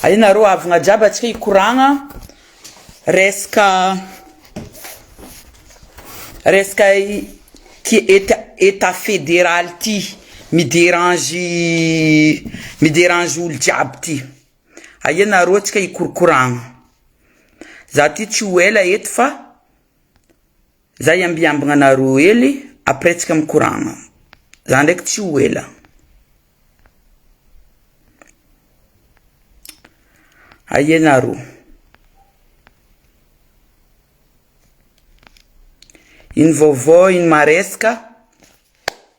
Aina ro avogna jiaby atsika hikoragna resaka resaka ty état fédéral ty mi dérange mi dérange olo jiaby ty aia nareo atsika hikorokoragna za ty tsy ho ela eto fa. Za iambiambagna anareo hely après tsika mikoragna. Za ndraiky tsy ho ela. Aia nareo. Ino vaovao ino maresaka.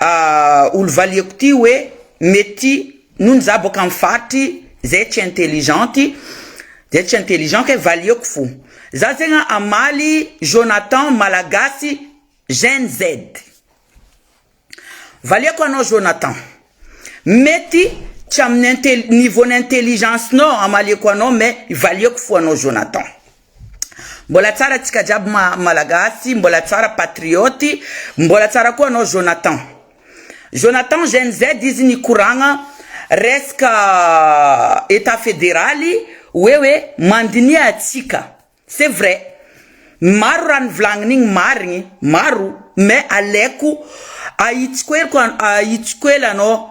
Ahh olo valiako ty hoe mety ty nony za boaka am faritry zay tsy intelligent ty zay tsy intelligent kay valiako fo za zegny an amaly Jonathan malagasy gen Z valiako anao Jonathan mety tsy aminy niveau ny intelligence nao amaliako anao mais valiako fo anao Jonathan. Mbola tsara tsika jiaby malagasy mbola tsara patriote mbola tsara koa anao Jonathan Jonathan gen z izy nikoragna resaka etat federaly hoe hoe mandiniha atsika c'est vrai maro raha nivolagniny igny marigny maro mais aleko ahitsiko ela anao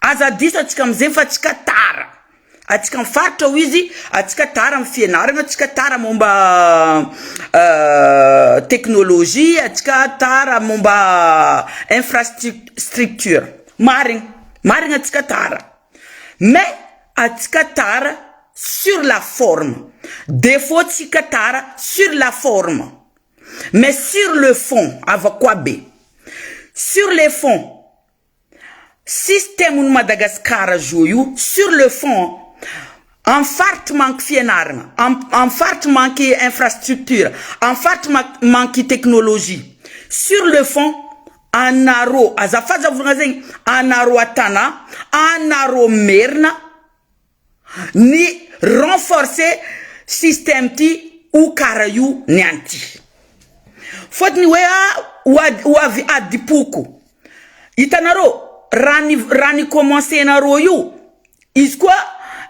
Aza adiso atsika amzeny fa atsika tara atsika am faritra hoy izy atsika tara am fianarana atsika tara momba teknolojia atsika tara momba infrastructure marigny marigny atsika tara mais atsika tara sur la forme defaut tsika tara sur la forme mais sur le fond ava koa be sur le fond. Système ny Madagascar zô io sur le fond an, am faritry manky fianaragna, am faritry manky infrastructure, am faritry manky technologie, sur le fond anarô azafazavogna zegny anarô a Tana, anarô merina, ny renforcer système ty o kara io ny any ty fotony oe a ho avy adipoko itanareo raha ny raha ny commence nareo io izy koa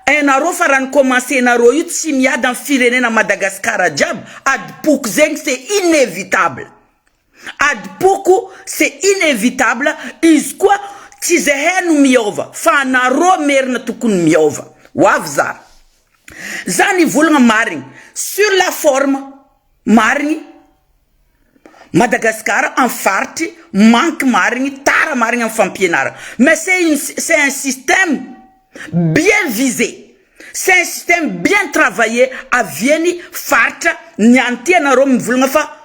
enareo fa raha ny commence nareo io tsy miady am firenena Madagascar jiaby adipoko zegny c'est inevitable. Adim-poko c'est inevitable izy koa tsy zahay no miova fa anarô merina tokony miova ho avy za za nivolagna marigny sur la forme marigny Madagascar am faritry manque marigny tara marigny am fampianaragna mais c'est une c'est un système bien visé c'est un système bien travaillé aviany faritra ny anty anarô mivolagna fa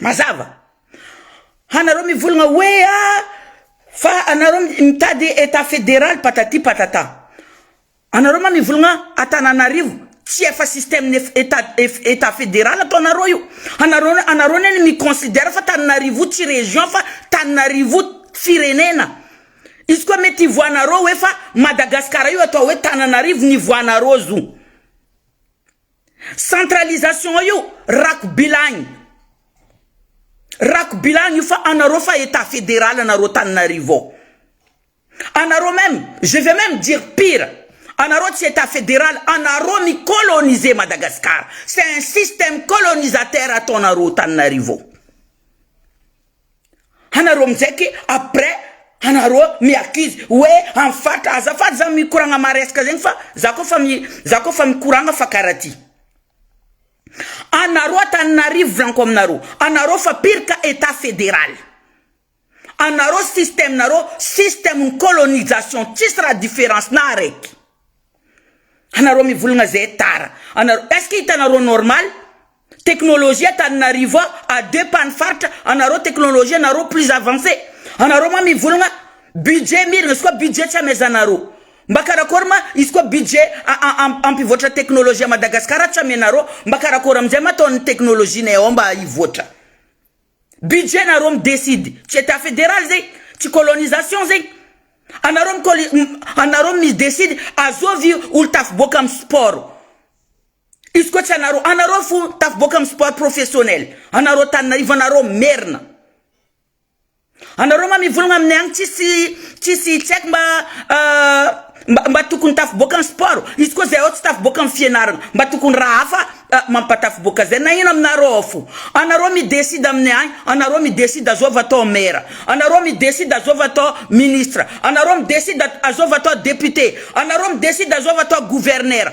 Mazava. Hanareo mivolagna hoe ah fa anareo mitady etat federal patati patata. Anareo ma mivolagna Antananarivo tsy efa système ny etat etat federal atao nareo io. Anareo anareo anie no mi considère fa Tananarivo tsy région fa Tananarivo firenena. Izy koa mety hivoahanareo hoe fa Madagascar io atao hoe Tananarivo ny hivoahanareo zo. Centralisation io rakobilagny rakobilagny io fa anareo fa etat federal anareo Antananarivo ao anareo meme je vais meme dire pire anareo tsy etat federal anareo mi coloniser Madagascar c'est un système colonisateur ataonareo Antananarivo ao. anareo amizay ke après anareo mi accuse oe am fatra azafady za mikoragna maresaka zegny fa za ko fa mi za ko fa mikoragna fa kara ty anareo antaninarivo volanko aminareo anareo fa pire ka etat federaly anareo système nareo système ny colonisation tsisy raha difference na araiky anareo mivolagna zay tara anareo est ce que hitanareo normal Technologie Antananarivo a à deux pas ny faritra anareo technologie anareo plus avance anareo ma mivolagna budget miragna izy koa budget tsy amezanareo mba karakory ma izy koa budget ampivoatra technologie à Madagascar tsy amenareo mba karakory amizay ma ataony technologie nay ao mba hivoatra budget nareo mi decide tsy etat federal zay tsy colonisation zay anareo mi anareo mi decide azovy olo tafiboaka am sport. Izy koa tsy anareo, anareo fo tafiboaka amin'ny sport professionnel, anareo Antananarivo, anareo merina. Anareo ma mivolagna aminay agny tsisy tsisy tsy haiko mba mba mba tokony tafiboaka ny sport, izy koa zay ao tsy tafiboaka amin'ny fianaragna, mba tokony raha hafa mampatafiboaka zay, nagnino aminareo ao fo, anareo mi decide aminay agny, anareo mi decide azôva atao maire, anareo mi decide azôva atao ministre, anareo mi decide azôva atao député, anareo mi decide azôva atao gouverneur.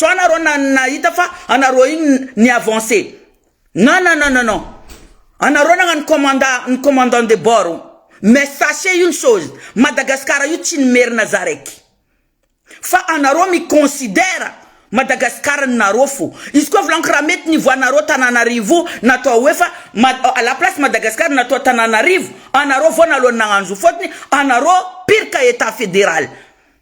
Sao nareo nahita fa anareo iny ni avancer? Non non non non anareo nagnano commanda ny commandant de bord mais sachez une chose Madagascar io tsy ny merina za raiky fa anareo mi considère Madagascar ny nareo fo izy koa volaniko raha mety nivoahanareo Tananarivo natao hoe fa à la place Madagascar natao Tananarivo anareo voana alohan'ny nagnano zo fotony anareo pire ka etat federal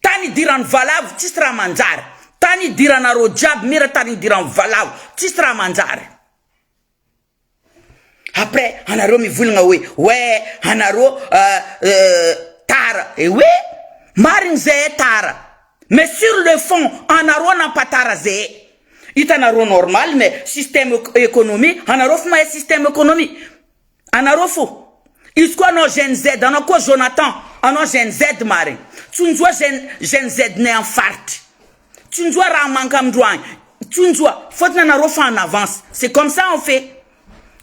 Tany idiran'ny valavo tsisy raha manjary Tany idiranareo jiaby mira tany idiran'ny valavo tsisy raha manjary Après anareo mivolagna hoe ouais anareo tara eh oui marigny zeh tara mais sur le fond anareo nampatara zeh Hitanareo normal mais système économie anareo efa mahay système économie Anareo fo. Izy koa anao Gen Z, anao koa Jonathan, anao Gen Z marigny. Tsonjoa Gen Gen Z nay am faritry. Tsonjoa raha manka amindroany. Tsonjoa. Fôtony anareo fa en avance. C'est comme ça on fait.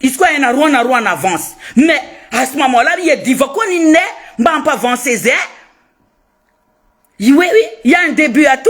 Izy koa hainareo anareo en avance. Mais à ce moment là iadiva koa ny ninay mba hampa avancer zay. I we oui, il y a un debut à tout.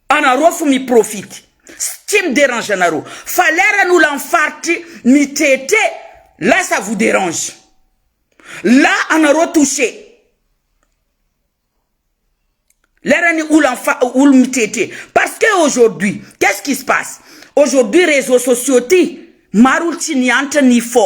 Anareo fo mi profite sy tsy mi derange anareo fa lera ny olan faritry mi tretre là ça vous derange là anareo touche lera ny olan fa olo mi tretre parce que aujourd'hui qu'est ce qui se passe aujourd'hui reseau sociaux ty maro olo tsy niantra ni fo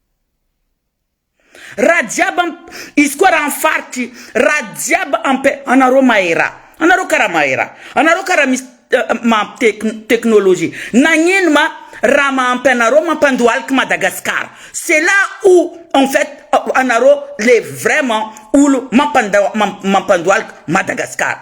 Raha jiaby am izy koa raha am faritry raha jiaby am pe anareo mahay raha anareo karaha mahay raha anareo karaha misy maha tek teknolojia nagnino ma raha mahampy anareo mampandohalika Madagasikara c'est là où en fait anareo le vraiment olo mampandohalika Madagasikara.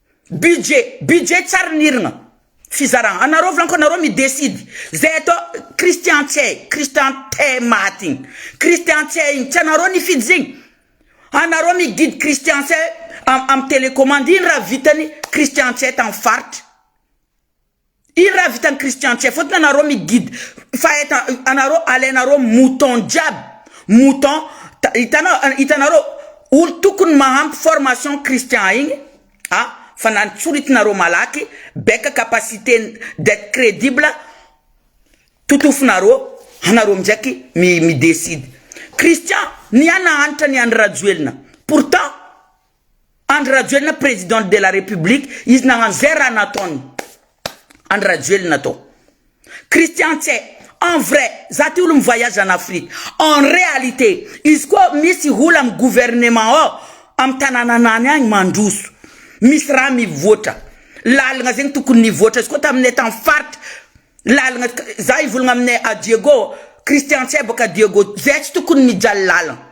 Budget, budget tsary ny hirgna, fizaragna, anareo franco anareo mi decide, zay atao Christian tsy hay, Christian teh maty igny, Christian tsy hay igny, tsy anareo nifidy zegny, anareo mi guide Christian tsy hay am am telecommande, ino raha vitany Christian tsy hay tam faritry. Ino raha vitan'i Christian Tsia fotony anareo mi guide fa etan anareo alainareo mouton jiaby mouton hitanao hitanareo olo tokony mahampy formation Christian igny a fa na ny tsoritinareo malaky baika capacité d'etre credible totofonareo anareo midraiky mi mi decide Christian ny ana hanitra ny an'i Rajoelina pourtant Andry Rajoelina president de la République izy nagnano zay raha nataony Andry Rajoelina tao Christian tse en vrai za ty olo mi voyage en Afrique en réalité izy koa misy ola am gouvernement ao am tanananany agny mandroso misy raha mivoatra lalagna zegny tokony nivoatra izy koa taminay tam faritry lalagna za hivolagna aminay a Diego Christian tse boka Diego zay tsy tokony mijaly lalagna.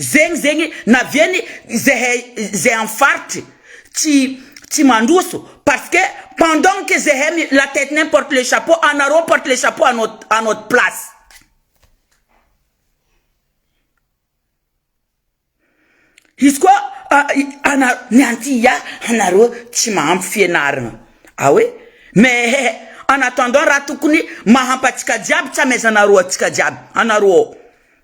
Zegny zegny naviany zehay zay am faritry tsy tsy mandroso parce que pendant que zehay mi la tête nain porte le chapeau anareo porte le chapeau à not à notre place izy koa a ana ny anti ya anareo tsy mahampy fianaragna ah oui mais eh en attendant raha tokony mahampy atsika jiaby tsy amezanareo atsika jiaby anareo.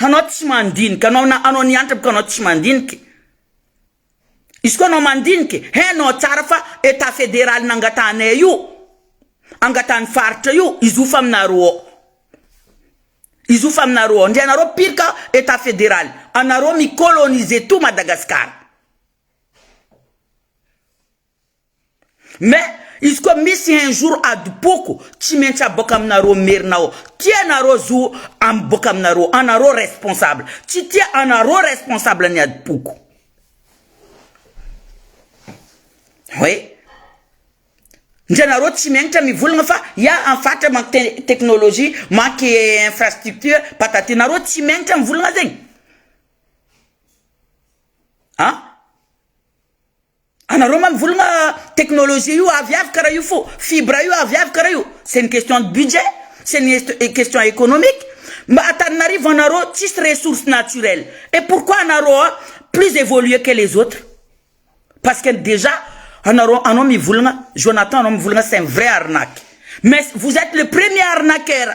Anao tsy mandinika, anao na anao niantra ko anao tsy mandinika, izy koa anao mandinika e, hainao tsara fa Etat federaly nangatahanay io, angatahan'ny faritra io, hizofa aminareo ao, hizofa aminareo ao, ndry anareo pirka Etat federaly, anareo mi-coloniser tout Madagascar. Mais izy koa misy un jour adim-poko tsy maintsy aboaka aminareo merina ao, tia anareo zo miboaka aminareo, anareo responsable, tsy tia anareo responsable ny adim-poko. Oui. Ndry anareo tsy maintsy mivolagna fa ya am faritra manque technologie, manque infrastructure, patati, nareo tsy maintsy mivolagna zegny an. Anareo ma mivolagna technologie io avy avy kara io fo fibre io avy avy kara io c'est une question de budget c'est une question economique mba Antananarivo anareo tsisy ressource naturelle et pourquoi anareo a plus evoluer que les autres parce que dejà anareo anao mivolagna Jonathan anao mivolagna c'est un vrai arnaque mais vous etes le premier arnaqueur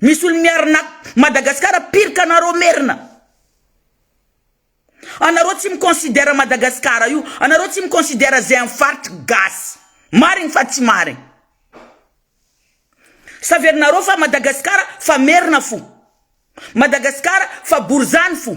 Misy olo miarina Madagascar pire qu'anareo merina. Anareo tsy mi considère Madagascar io, anareo tsy mi considère zay am faritry gasy. Marigny fa tsy marigny. Saverinareo fa Madagascar fa merina fo. Madagascar fa borizano fo.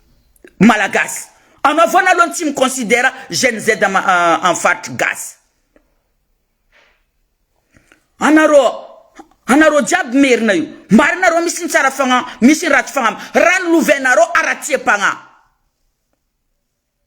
Malagasy. Anao foana aloha no tsy mi-considère Gen Z amin'ny faritry gasy. Anareo, anareo jiaby merina io. Marina arô misy ny tsara fagnahy, misy ny ratsy fagnahy. Raha ny lovainareo haratsiam-pagnahy.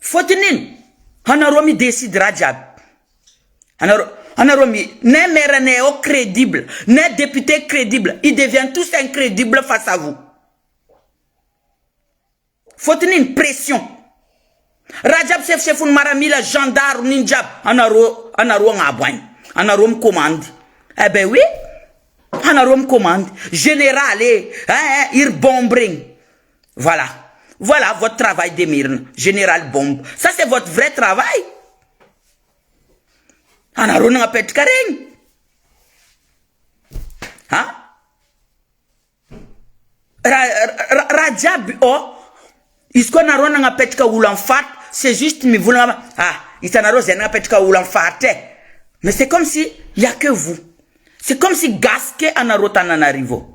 Fôtony ino? Anarô mi decide raha jiaby, anarô anarô mi ne maire ne ao credible, ne député credible, il devient tous incredible face à vous, fôtony ino? Pression, raha jiaby sefosefony maramila, zandaro, nino jiaby anarô anarô agnabo agny, anarô mi commande, eh ben oui anarô mi commande, général e, eh eh iry bombe regny. Voilà Voilà votre travail de merina Général bombe ça c'est votre vrai travail anareo nagnapetraka regny a raha jiaby ô izy koa anareo nagnapetraka olo am faritra c'est juste mivolagna a hitanareo zay nagnapetraka olo am faritra e mais c'est comme si y'a que vous c'est comme si gasy ke anareo Tananarivo.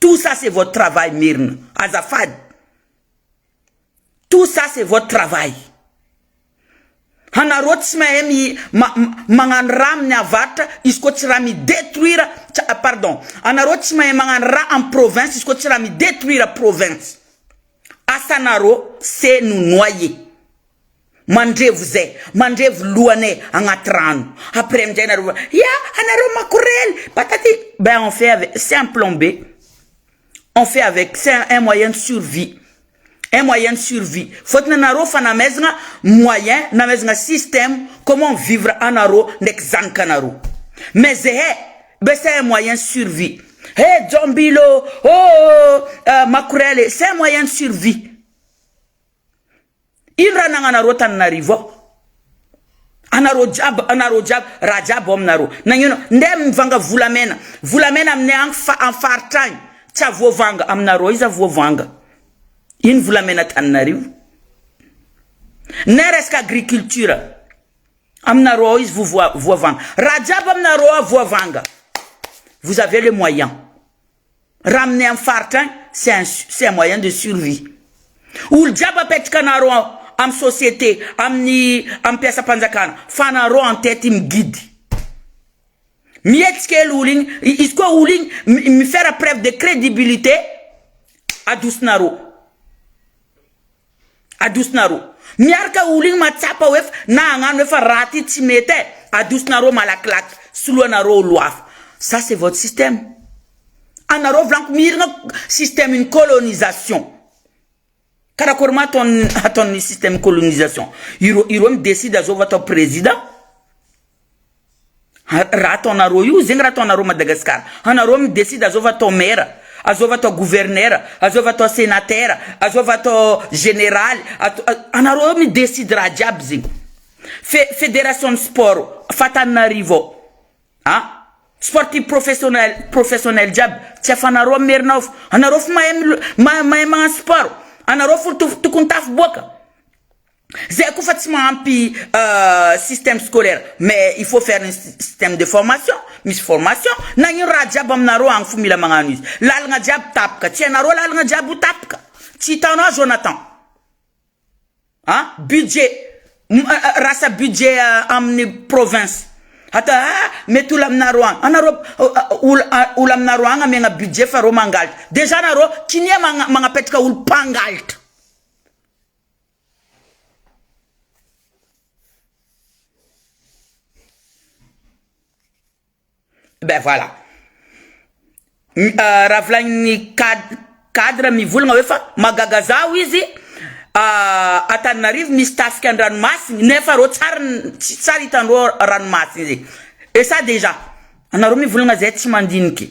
Tout ça c'est votre travail Merina, azafady. Tout ça c'est votre travail. Hanareo tsy mahay mi ma magnano raha amin'ny avarotra izy koa tsy raha mi detruire pardon, anareo tsy mahay magnano raha am province izy koa tsy raha mi detruire province. Asanareo c'est nous noyer. Mandrevo zay mandrevo lohanay agnaty rano après amizay nareo va ya anareo makorely patati ben on fait avec c'est un plan B on fait avec c'est un moyen de survie un moyen de survie fôtony anareo fa namezagna moyen namezagna système comment vivre anareo ndraiky zanakanareo mais zehe be c'est un moyen de survie he jombilo ôhh makorely c'est un moyen de survie. Ino raha nagnanareo tananarivo ao? Anareo jiaby anareo jiaby raha jiaby ao aminareo nagnino ndeha mivanga volamena volamena aminay agny fa am faritra agny tsy avoavanga aminareo aiza voavanga ino volamena tananarivo na resaka agriculture aminareo ao izy voavoa voavanga raha jiaby aminareo ao voavanga vous avez le moyen Raha aminay amin'ny faritra any c'est un c'est un moyen de survie. Olo jiaby apetraka anareo ao amin'ny société amin'ny amin'ny mpiasam-panjakana fa anareo en tête mi guide. Mihetsika ela olo igny, izy koa olo igny mi mi faire preuve de crédibilité adosinareo. Adosonarô miaraka ologny matsapa hoe fa na hagnano hoe fa raha ty tsy mety eh adosonarô malakilaky soloanarô olo hafa ça c'est votre système anarô volaniko miragna système une colonisation karakory ma ataony ataony système colonisation irô irô mi decide zao vao atao prezida. Raha ataonareo io, zegny raha ataonareo Madagascar. Anareo mi decide azôva atao maire, azôva atao gouverneur, azôva atao senateur, azôva atao generaly, anareo mi decide raha jiaby zegny. Fe federation ny sport fa Antananarivo ao, a sportif professionnel professionnel jiaby tsy afanareo am maire nao fa anareo fô mahay mahay magnano sport, anareo fô tokony tafiboaka. Zay koa fa tsy mahampy système scolaire mais il faut faire une système de formation misy formation nagnino raha jiaby aminareo agny fo mila magnano izy lalagna jiaby tapaka tsy hainareo lalagna jiaby ho tapaka tsy hitanao Jonathan a budget rasa budget aminy province ata a mety ola aminareo agny anareo ola ola aminareo agny amegna budget fa reo mangalatra dejà nareo kinia magnapetraka olo mpangalatra. Ben voilà, raha volanin'ny cad- cadre mivolagna hoe fa mahagaga zaho izy Antananarivo misy tafika an-dranomasiny nefa rô tsary n- tsy tsary hitanareo ranomasina zegny, et ça dejà anareo mivolagna zay tsy mandiniky.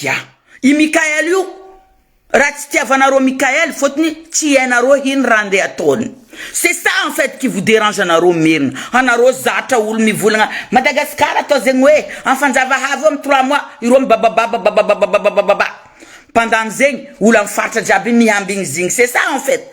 Ya. I Mickael io raha tsy tiavanareo Mickael fotony tsy hainareo ino raha ndeha ataony. C'est ça en fait qui vous derange anareo merina. Anareo zatra olo mivolagna Madagascar atao zegny hoe am fanjava havy eo am trois mois ireo mibabababa babababababababa. Pendant zegny olo am faritra jiaby miambigny zigny c'est ça en fait.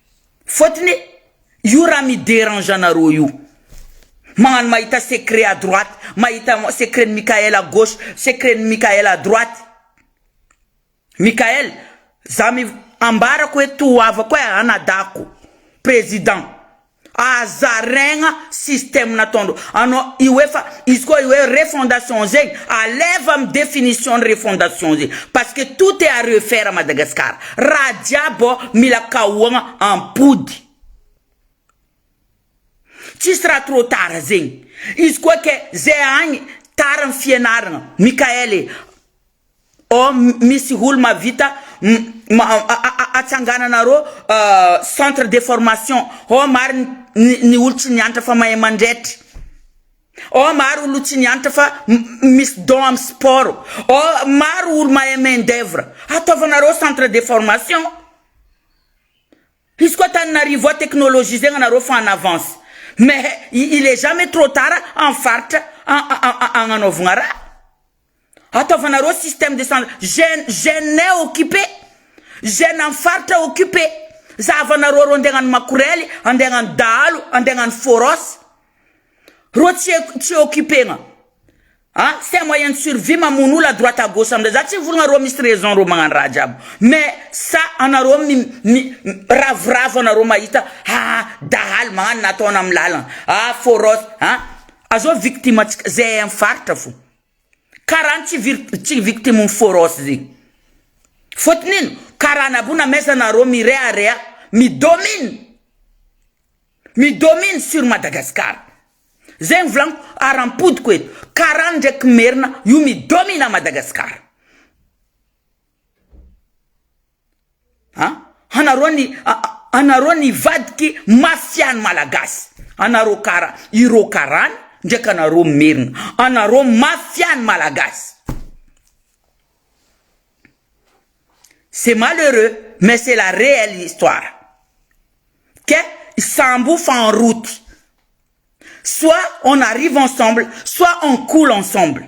Fotony io raha mi derange anareo io magnano mahita secret à droite mahita secret ny Mickaël à gauche secret ny Mickaël à droite Mickaël za mi ambarako hoe to havako hoe anadahako président aza regna système nataondreo anao io hoe fa izy koa io hoe refondation zegny aleva am definition ny refondation zegny parce que tout est à refaire à Madagascar Raha jiaby oh mila kaohagna ampody. Tsisy raha trop tard zegny. Izy koa ke ze agny tara ny fianaragna. Mickaël e. Oh misy olo mavita atsangananarô centre de formation. Oh marigny ny olo tsy niantra fa mahay mandretra. Oh maro olo tsy niantra fa misy don am sport oh maro olo mahay main d'oeuvre ataovanareo centre de formation izy koa Antananarivo ao technologisegna nareo fa en avance mais il est jamais trop tard am faritra agnanaovagna raha. Ataovanareo système de san gen gene occupé gene am faritra occupé za havanareo reo andeha agnano makorely andeha agnano dahalo andeha agnano foros reo tsy eko tsy occupegna a c'est un moyen de survie mamono olo à droite à gauche amzay za tsy mivolagna reo misy raison reo magnano raha jiaby mais sa anareo mi mi ravoravo anareo mahita ha dahalo magnano na ataona am lalagna a foros a azao victime antsika ze am faritra fo. Karaha ny tsy vir tsy victime ny foros ze. Fotony ino? Karaha anabo na mesa nareo mirehareha mi-domine, mi-domine sur Madagascar. Zay ny volagniko ara-podiko e. Karaha ny ndraiky merina io mi-domine à Madagascar. An! Anareo ny anareo nivadiky mafia ny malagasy, anareo kara ireo karany ndraiky anareo merina, anareo mafia ny malagasy. C'est malheureux mais c'est la réelle histoire ke sambo fa en route soit on arrive ensemble soit on coule ensemble.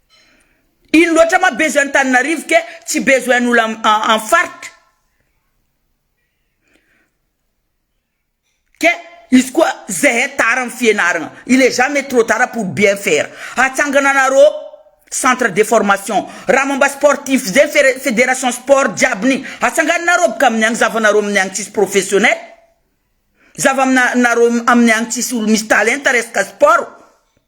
Ino loatra ma besoin Antananarivo ke tsy besoin olo am faritra ke izy koa zehe tara am fienarana il est jamais trop tard pour bien faire atsangana anareo centre de formation raha momba sportif ze federation sport jiaby ny atsanganonareo boka aminy any zavanareo aminy any tsisy professionnel zava amina nareo aminy any tsisy olo misy talenta resaka sport.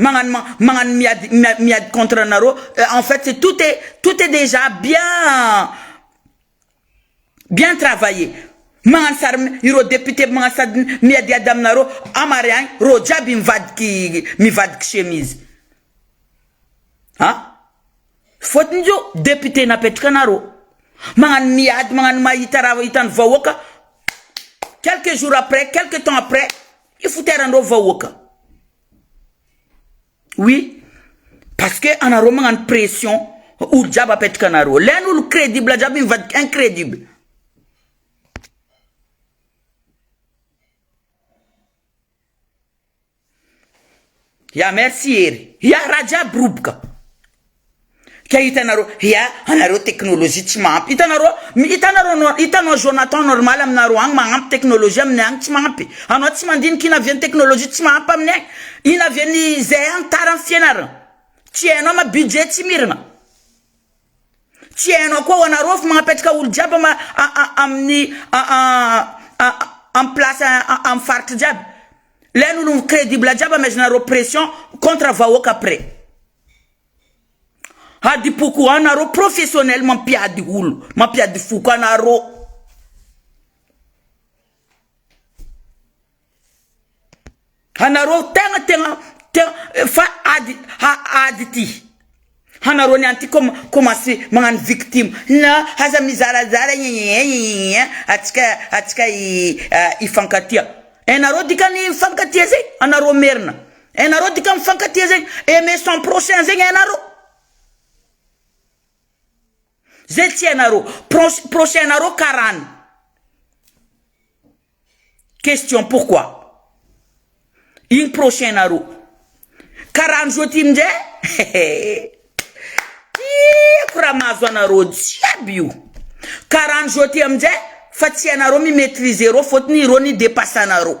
magnano magnano miady miady contre anareo en fait c'est tout est tout est dejà bien bien travailler magnano sary ireo député magnano sady miadiady aminareo amarihagny reo jiaby mivadiky mivadiky chemise a fôtony zô député napetraka anareo magnano miady magnano mahita raha hitany vahoaka quelques jours après quelques temps après. Ny foteranreo vahoaka. Oui parce que anareo magnano pression olo jiaby apetraka anareo. Lay an'olo credible jiaby mivadika incredible. Ya merci Hery. Ya raha jiaby roboka ka hitanareo ya anareo technologie tsy mahampy hitanareo hitanareo hitanao Jonathan normal aminareo agny magnampy technologie aminay agny tsy mahampy anao tsy mandinika ino avy any technologie tsy mahampy aminay agny ino avy any zay any tara am fianarana tsy hainao ma budget tsy mirana. Tsy hainao koa wa nareo fa mampetraka olo jiaby aminy am place am faritra jiaby le ny olo credible jiaby amezanareo pression contre vahoaka après adipo ko an nareo professionnel mampiady olo mampiady foko anareo. Anareo tegna tegna tegna fa ady ady ity hanareo niany ty kôma kômansy magnano victime na aza mizarazara atsika atsika hifankatia enareo dikany hifankatia zay anareo merina enareo dika mifankatia zay aimer son prochain zay enareo. Zay tsy hainareo. Proche, prochain nareo karany. Question pourquoi? Igny prochain nareo. Karany zao ty minjay tiako raha mahazo anareo jiaby io. Karany zao ty aminjay fa tsy hainareo mi maitrise reo fotony reo ni depasse anareo.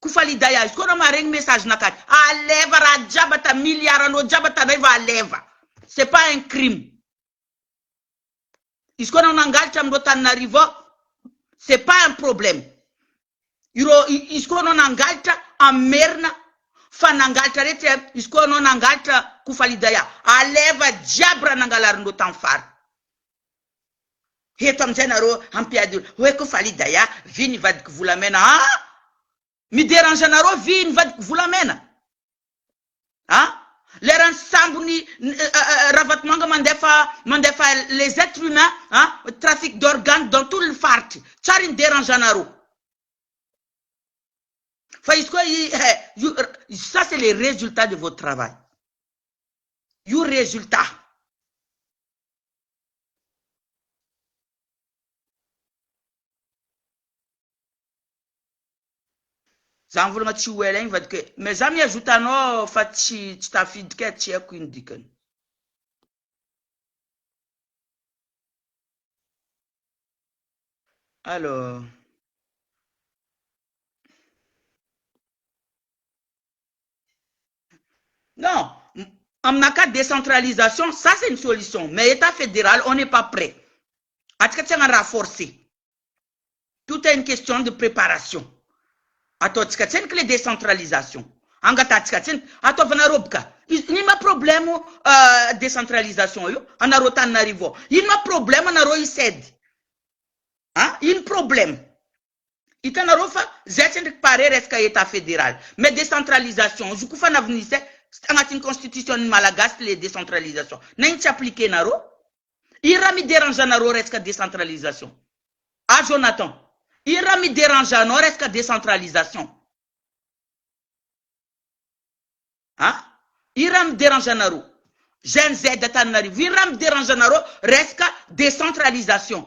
Kofaliday azy koa raha maharegny message nakany aleva raha jiaby ata milliard anao jiaby ata ndray va aleva c'est pas un crime izy koa anao nangalatra amindreo taninarivo ao c'est pas un problème ireo izy koa anao nangalatra am merina fa nangalatra retsy a izy koa anao nangalatra kofalidaya aleva jiaby raha nangalarinreo tam fara Eto amin'izay nareo hampiady olona. Hoe koa Fally Daya, vy ny vadiko volamena ah! Mi derange anareo vy ny vadiko volamena ah! Leran'ny sambo ny Ravatomanga mandefa mandefa les etres humains ah! Trafic d'organes dans tout le faritry. Tsary ny derange anareo. Fa izy koa eh, ça c'est les resultats de votre travail. Io resultat. Za mivolagna tsy ho ela igny vadiko e! Mais za miha zota anao fa tsy tsy tafiditra e, tsy haiko ino dikany. Allo. Non, aminakahy décentralisation ça c'est ny solution mais état fédéral on n'est pas près, antsika tsy hagnano raha forcé, tout est une question de préparation, ataontsika tsiniky le décentralisation, angatahantsika tsiniky, ataovana roboka, ino ma problème décentralisation io anareo Antananarivo ao, ino ma problème anareo hisaidy an, ino problème. Hitanareo fa zay tsy endriky pare resaka Etat Federal. Mais décentralisation izy io koa fa na vnise tsy tagnatin'ny constitution ny Malagasy le décentralisation. Na iny tsy appliquer nareo. Ino raha mi derange anareo resaka décentralisation? Ah Jonathan. Ino raha mi derange anao resaka décentralisation? Ah? Ino raha mi derange anareo? Gen Z Antananarivo. Ino raha mi derange anareo resaka décentralisation?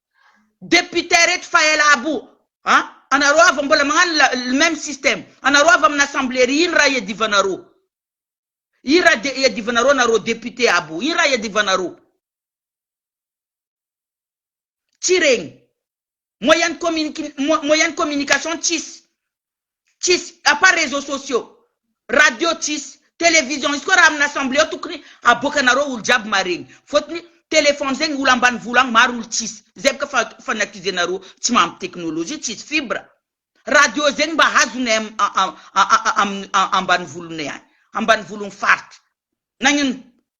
Députés reto fa ela abo a! Anareo avy mbola magnano la le même système. Anareo avy amina assemblée ry ino raha iadivanareo? Ino raha de iadivanareo anareo députés abo? Ino raha iadivanareo? Tsy regny. Moyen de communique moyen de communication tsisy. tsisy à part réseaux sociaux, radio tsisy, télévision izy koa raha amina assemblée ao tokony aboaka anareo olo jiaby maregny fotony téléphone zegny olo ambanivolo agny maro olo tsisy zay boka fa fanatisé nareo tsy mahampy technologie tsisy fibre, radio zegny mba hazonay aminy ambanivolonay agny ambanivologny faritra nagnino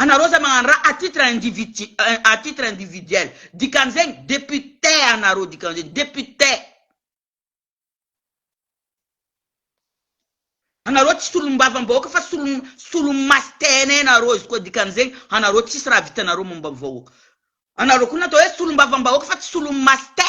Anareo zay magnano raha à titre individu à titre individuel dikan'izegny député anareo dikan'izegny député. Anareo tsy solombavambahoaka fa solo solomaso tena anareo izy koa dikan'izegny anareo tsisy raha vitanareo momba ny vahoaka. Anareo koa natao hoe solombavambahoaka fa tsy solomaso te.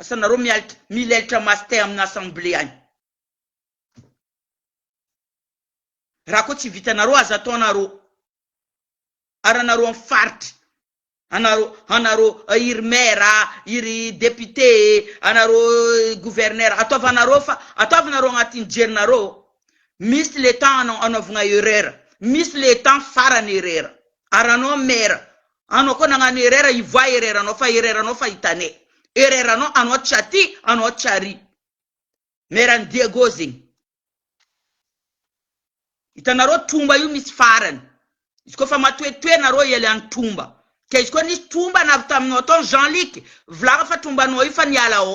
Asa nareo mialtra milailtra maso tay amina assemblée any. Raha koa tsy vitanareo aza atao nareo ary anareo am faritry anareo anareo iry maire iry député anareo gouverneur ataovanareo fa ataovanareo agnatin jerinareo misy le temps anao anaovagna erreur misy le temps farany erreur ary anao maire Anao koa nagnano erreur hivoaha erreur nao fa erreur nao fa hitane erreur nao anao tsy aty anao tsy ary mère ny Diego zegny hitanareo tromba io misy farany izy koa fa matoetoe nareo hialiany tromba ka izy koa nisy tromba na avy taminao tao Jean Luc volagna fa tromba nao io fa niala ao.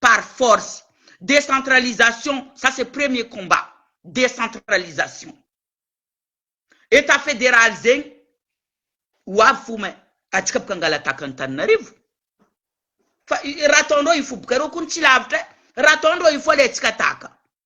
par force. Décentralisation, ça c'est premier combat, décentralisation. Etat fédéral zegny, ho avy fo mais atsika boka hangalataka Antananarivo. Fa raha ataondreo hifoha boka reo kony tsy lavitra e, raha ataondreo hifoha le atsika taka.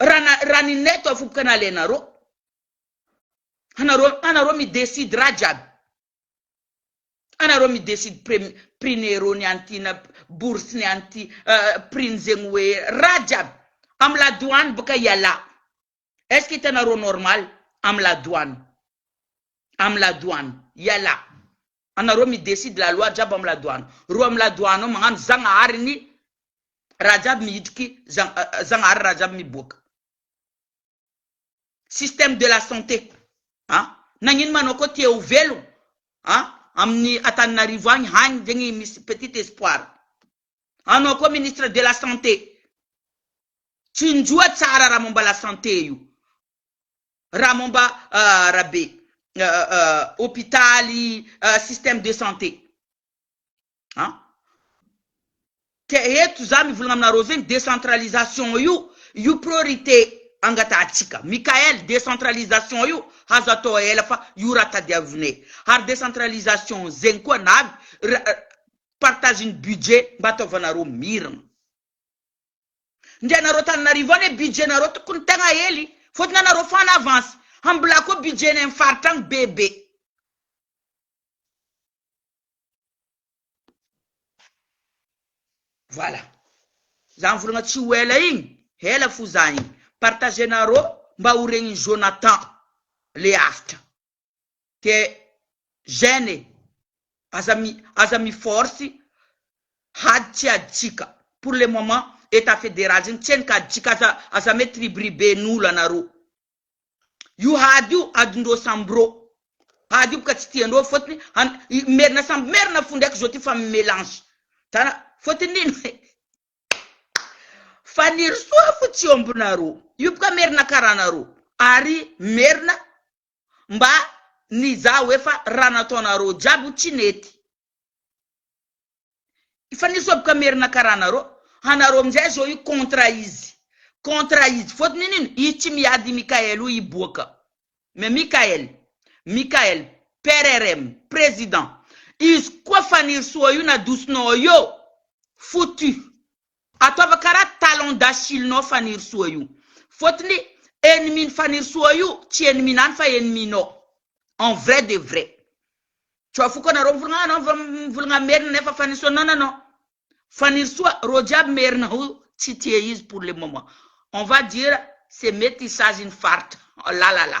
Raha raha ny net afoboka nalainareo. Anareo anareo mi decide raha jiaby. Anareo mi decide prem prix ny euro ny an'ity na bourse ny an'ity prix ny zegny hoe raha jiaby. Am la douane boka ialahy. Est ce que hitanareo normal am la douane. Am la douane ialahy. Anareo mi decide la loi jiaby am ladoano reo am ladoano ao magnano zagnahary ny raha jiaby mihitriky zagnahary raha jiaby miboaka système de la santé a nagnino ma anao koa tia ho velogno a aminy Antananarivo agny hagny zegny misy petite espoir anao koa ministre de la santé tsinjo tsara raha momba la santé io. raha momba arabe, hopitaly, système de santé an! Ka eto za mivolagna aminareo zegny décentralisation io, io priorité angatahantsika, Mickaël, décentralisation io azo atao ela fa io raha tadiavinay, ary décentralisation zegny koa na partage ny budget mba ataovanareo miragna. ndry anareo Antananarivo any e budget nareo tokony tegna hely fôtony anareo fo en avance hambilà koa budget nay am faritra agny be be. Voilà za mivolagna tsy ho ela igny ela fo za igny partager nareo mba ho regny Jonathan le avotra. de gène e! aza mi aza mi force hady tsy aditsika pour le moment etat federal zegny tsy henoko aditsika aza aza mitribiriben'olo anareo io hady io adindreo samby reo hady io boka tsy tiandreo fôtony an i merina samby merina fo ndraiky zao ty fa mi melange tara fôtony ino e Fanirisoa fo tsy ômbinareo io boka merina karaha anareo ary merina mba nizaha hoe fa raha nataonareo jiaby tsy nety fa nisoboka merina karaha anareo anareo amizay zao io contre izy contre izy fotony iny ino i tsy miady i Mickael io hiboaka mais Mickael Mickael PRRM president izy koa Fanirisoa io nadosonao eo foutu. Ataova karaha talon d'achille nao fanirisoa io fotony ennemi ny fanirisoa io tsy ennemi nany fa ennemi nao en vrai de vrai tsy ho afoko anareo mivolagna anao vao mivolagna merina nefa fanirisoa non non non fanirisoa reo jiaby merina io tsy tia izy pour le moment on va dire c'est metissage ny faritra la la la.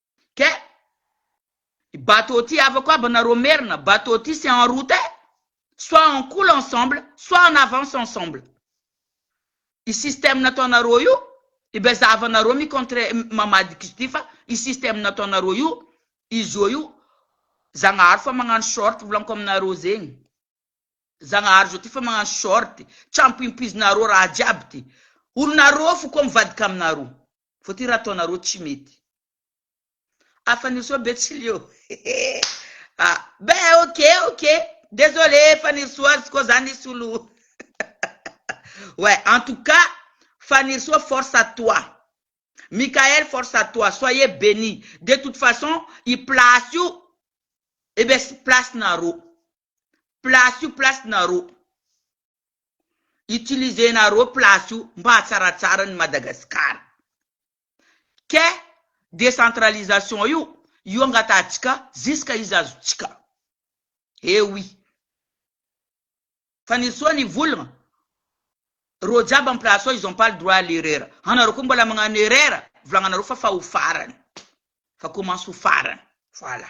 Ke. I bateau ty havako aby anareo merina, bateau ty c'est en route eh! Soit on coule ensemble, soit on avance ensemble. I système nataonareo io, eh ben zahavanareo mi contre mamadika izy ty fa i système nataonareo io, i zo io, Zagnahary fa magnano short volanko aminareo zegny. Zagnahary zo ty fa magnano short, trampoimpoizinareo raha jiaby ty. Olonareo fo koa mivadika aminareo. Fa ty raha ataonareo tsy mety. Afa nirso betsileo a be ok ok desole fanirisoa ary zko zany ny solo ouais en tout cas fanirisoa force à toi Mickaël force à toi soyez beni de toute façon i place io eh bien sy place nareo. place io place nareo utiliser nareo place io mba hatsaratsara ny Madagascar ke decentralisation io io angatahantsika ziska izy azontsika eh oui fa ny soa ny volana reo jiaby am place ao ils ont pas le droit à l'erreur anareo ko mbola magnano erreur volagnanareo fa fa ho farany fa commence ho farany voilà.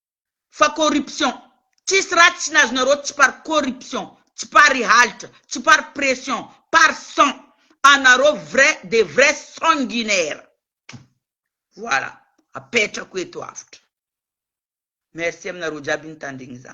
fa corruption tsisy raha tsy nazonareo tsy par corruption tsy par i halitra tsy par pression par sang anareo vrai des vrais sanguinaires voilà apetrako eto avotra merci aminareo jiaby nitandregny za.